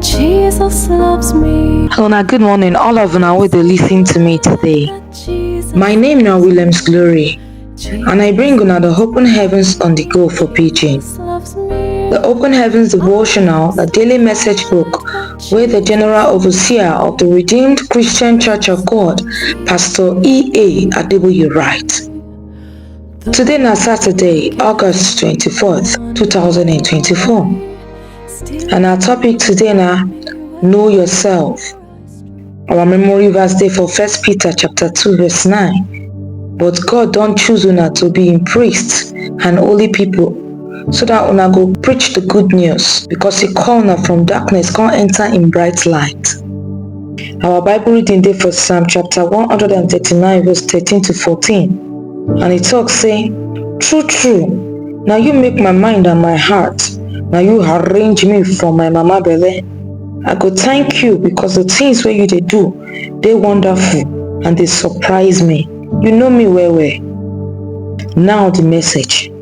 Jesus loves me. Una good morning, all of una wey dey listen to me today. Jesus, My name na Williams Glory, and I bring una the open heavens on the go for pidgin. Jesus loves me. The Open Heavens Devotional, the daily message book, where the General Overseer of the Redeemed Christian Church of God, Pastor E.A. Adeboye writes. Today na Saturday, August 24th, 2024. And our topic today now, know yourself. Our memory verse day for First Peter chapter 2 verse 9. But God don't choose una to be in priests and holy people so that una go preach the good news because he call una from darkness come enter in bright light. Our Bible reading day for Psalm chapter 139 verse 13 to 14. And he talk say, True, true, now you make my mind and my heart. Now you arrange me for my mama belle. I go thank you because the things where you they do, they wonderful and they surprise me. You know me well well. Now the message.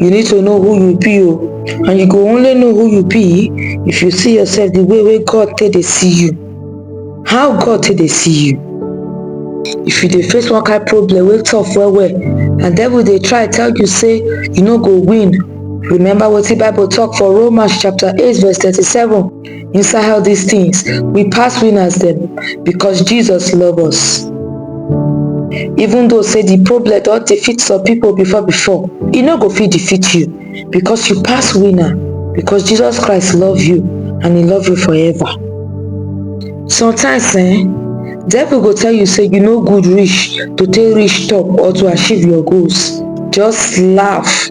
You need to know who you be o and you go only know who you be if you see yourself the way wey God take dey see you. How God take dey see you? If you dey face one kind problem wey tough well well and devil dey try tell you say you no go win, remember wetin bible talk for Romans chapter eight verse thirty-seven inside all these things we pass winners them because jesus love us even though say the problem don't defeat some people before before e no go fit defeat you because you pass winner because jesus christ love you and he love you forever sometimes eh devil go tell you say you no good reach to take reach top or to achieve your goals just laugh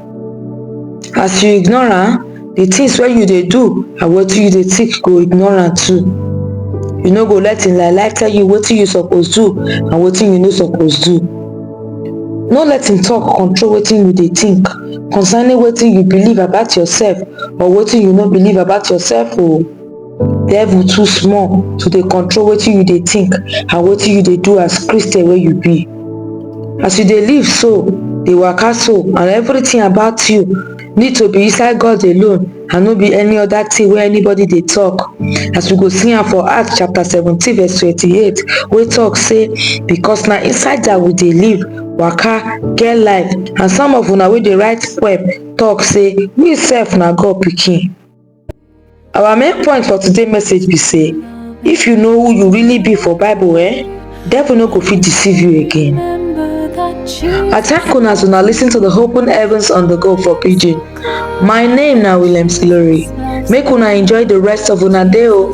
as you ignore am the things wey you dey do and wetin you dey think go ignore am too you no go let im lie lie tell you wetin you suppose do and wetin you no suppose do no let im talk control wetin you dey think concerning wetin you believe about yourself or wetin you no believe about yourself o devil too small to dey control wetin you dey think and wetin you dey do as christian wey you be as you dey live so dey waka so and everything about you need to be inside god alone and no be any other thing wey anybody dey talk as we go see am for acts chapter seventeen verse twenty-eight wey talk say because na inside that we dey live waka get life and some of una wey dey write poem talk say we sef na god pikin Our main point for today message be say if you know who you really be for bible eh devil no go fit deceive you again. I thank una as una listen to the open heavens on the go for pidgin. My name na Williams Ilori. Make una enjoy the rest of una day o.